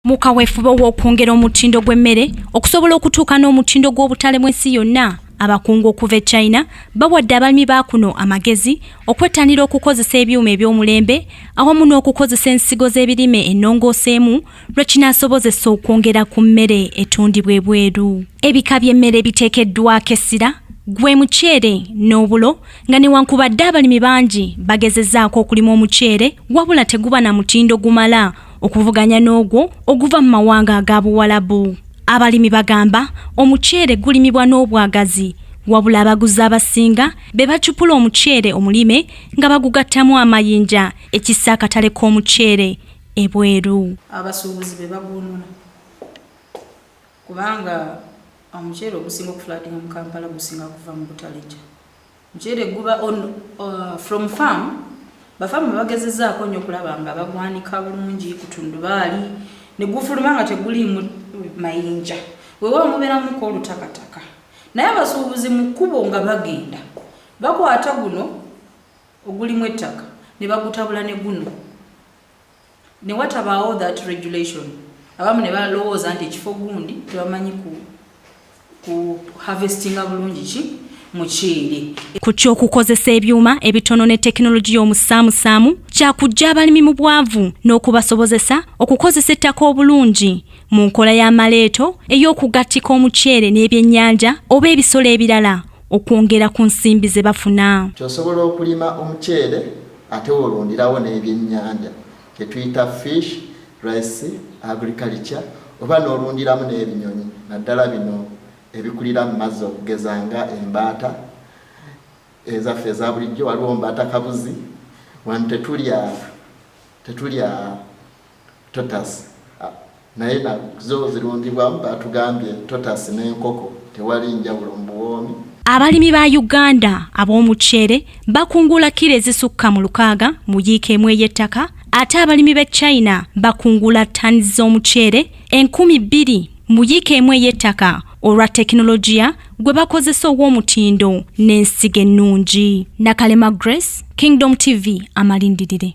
mu kaweefube w'okwongera omutindo gw'emmere okusobola okutuuka n'omutindo gw'obutale bw'ensi yonna abakungu okuva e china bawadde abalimi ba kuno amagezi okwettanira okukozesa ebyuma eby'omulembe awamu n'okukozesa ensigo z'ebirime ennongooseemu lwe kinaasobozesa okwongera ku mmere etundibwa ebweru ebika by'emmere ebiteekeddwako essira gwe muceere n'obulo nga newankubadde abalimi bangi bagezezaako okulima omuceere wabula teguba na mutindo gumala okuvuganya n'ogwo oguva mu mawanga aga buwalabu abalimi bagamba omuceere gulimibwa n'obwagazi wabula abaguzi abasinga be bacupula omuceere omulime nga bagugattamu amayinja ekissa akatale k'omuceere ebweru abasuubuzi be bagunula kubanga omuceere ogusinga okufulatinga mu kampala gusinga kuva mu butalija muceere guba on uh, from farm bafamu bagezezaako nnyo okulaba nga bagwanika bulungi kutundubaali ne gufuluma nga teguliimu mayinja weewaawo mubeeramuko olutakataka naye abasuubuzi mu kkubo nga bagenda bakwata guno ogulimu ettaka ne bagutabula ne guno ne watabaawo that regulation abamu ne balowooza nti ekifo gundi tebamanyi ku, ku harvestinga bulungi ki muceere ku ky'okukozesa ebyuma ebitono ne tekinologiya omusaamusaamu kyakujja abalimi mu bwavu n'okubasobozesa okukozesa ettaka obulungi mu nkola ya maleeto ey'okugattika omuceere n'ebyennyanja oba ebisolo ebirala okwongera ku nsimbi ze bafuna kyosobola okulima omuceere ate wolundirawo n'ebyennyanja kyetuyita fish rice agriculture oba n'olundiramu n'ebinyonyi naddala bino ebikulira mu mazzi okugeza nga embaata ezaffe eza bulijjo waliwo mbaata kabuzi wano tetulya tetulya Totas ah, naye na zo zirundibwamu batugambye totas n'enkoko tewali njawulo mu buwoomi. Abalimi ba Uganda ab'omuceere bakungula kilo ezisukka mu lukaaga mu yiika emu ey'ettaka ate abalimi b'e China bakungula ttani z'omuceere enkumi bbiri mu yiika emu ey'ettaka olwa tekinologiya gwe bakozesa ow'omutindo n'ensigo ennungi. Nakalema Grace, Kingdom TV, amalindirire.